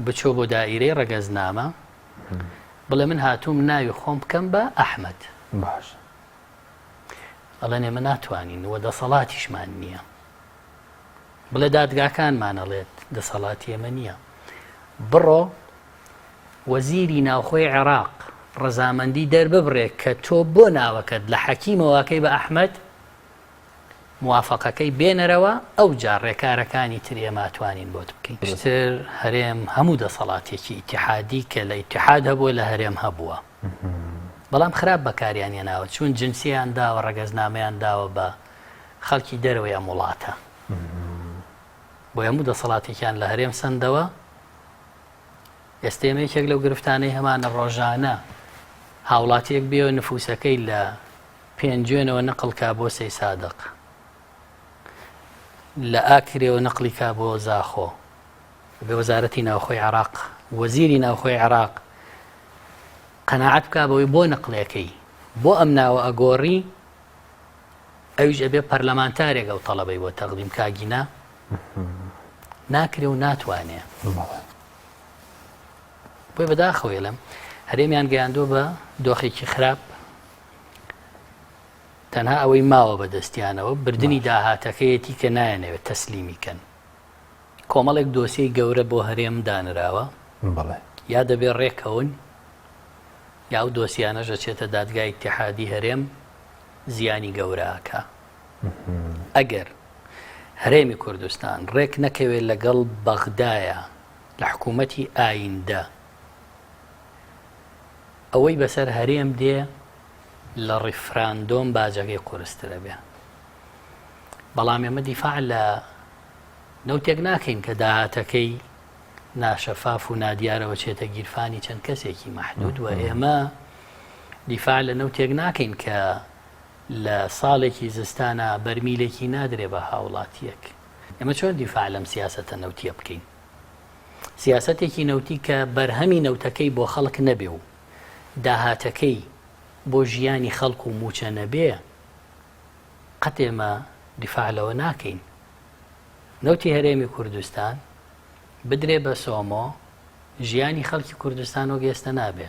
بچۆ بۆ دائیرەی ڕەگەزنامە بڵێ من هاتووم ناوی خۆم بکەم بە ئەحمد باش ئەڵێن ئێمە ناتوانین وە دەسەڵاتیشمان نییە بڵێ دادگاکانمانەڵێت دەسەڵاتی ئێمە نییە بڕۆ وەزیری ناوخۆی عێراق ڕەزامەندی دەرببڕێ کە تۆ بۆ ناوەکەت لە حەکیمەوەکەی بە ئەحمد موافەقەکەی بێنەرەوە ئەوجا ڕێکارەکانی تر ئێمە ئەتوانین بۆت بکەین پشتر هەرێم هەموو دەسەڵاتێکی ئیتحادی کە لە ئیتحاد هەبووە لە هەرێم هەبووە بەڵام خراپ بەکاریان هێناوە چون جنسیان داوە ڕەگەزنامەیان داوە بە خەڵکی دەرەوەی ئەم وڵاتە بۆ هەموو دەسەڵاتێکیان لە هەرێم سندەوە ئێستێمە یەکێک لەو گرفتانەی هەمانە ڕۆژانە هاوڵاتیەک بێ نفوسەکەی لە پێنجوێنەوە نەقڵ کا بۆ سەیسادق. لە ئاکرێوە نەقڵی کا بۆ زاخۆ. بە وەزارەتی ناوخۆی عراق وەزیری ناوخۆی عراق قەنەعەت بکا بەوەی بۆ نەقلەکەی بۆ ئەم ناوە ئەگۆڕی ئەویش ئەبێ پەرلەمانتارێک ئەو تەڵەبەی بۆ تەقدیم کاگینا ناکرێ و ناتوانێ بۆی بەداخەوەێلم هەرێمیان گەیاندووە بە دۆخێکی خراپ تەنها ئەوەی ماوە بە دەستیانەوە بردنی داهاتەکەیەتی کە نایەنەوێت تەسلیمی کەن. کۆمەڵێک دۆسیەی گەورە بۆ هەرێم دانراوە یا دەبێت رێککەون یا ئەو دۆسیانەش ئەچێتە دادگای ئیتیحادی هەرێم زیانی گەورە ئەکا. ئەگەر هەرێمی کوردستان رێک نەکەوێت لەگەڵ بەغدایە لە حکوومەتی ئاییندە، ئەوەی بەسەر هەرێم دێ لە ڕیفراندۆم باجەکەی قورسترەبێ بەڵام ئێمە دیفاع لە نەوتێک ناکەین کە داهاتەکەی ناشەفاف و نادیارەوە چێتە گیرفانی چەند کەسێکی مەحدود و ئێمە دیفاع لە نەوتێک ناکەین کە لە ساڵێکی زستانە بەرمیلێکی نادرێ بە هاوڵاتیەک ئەمە چۆن دیفاع لەم سیاستە نەوتیە بکەین سیاسەتێکی نەوتی کە بەرهەمی نەوتەکەی بۆ خەڵک نەبێ و داهاتەکەی بۆ ژیانی خەڵک و مووچە نەبێ، قەت ئێمە دیفاع لەوە ناکەین نەوتی هەرێمی کوردستان بدرێ بە سۆمۆ، ژیانی خەڵکی کوردستان وەک ئێستە نابێ.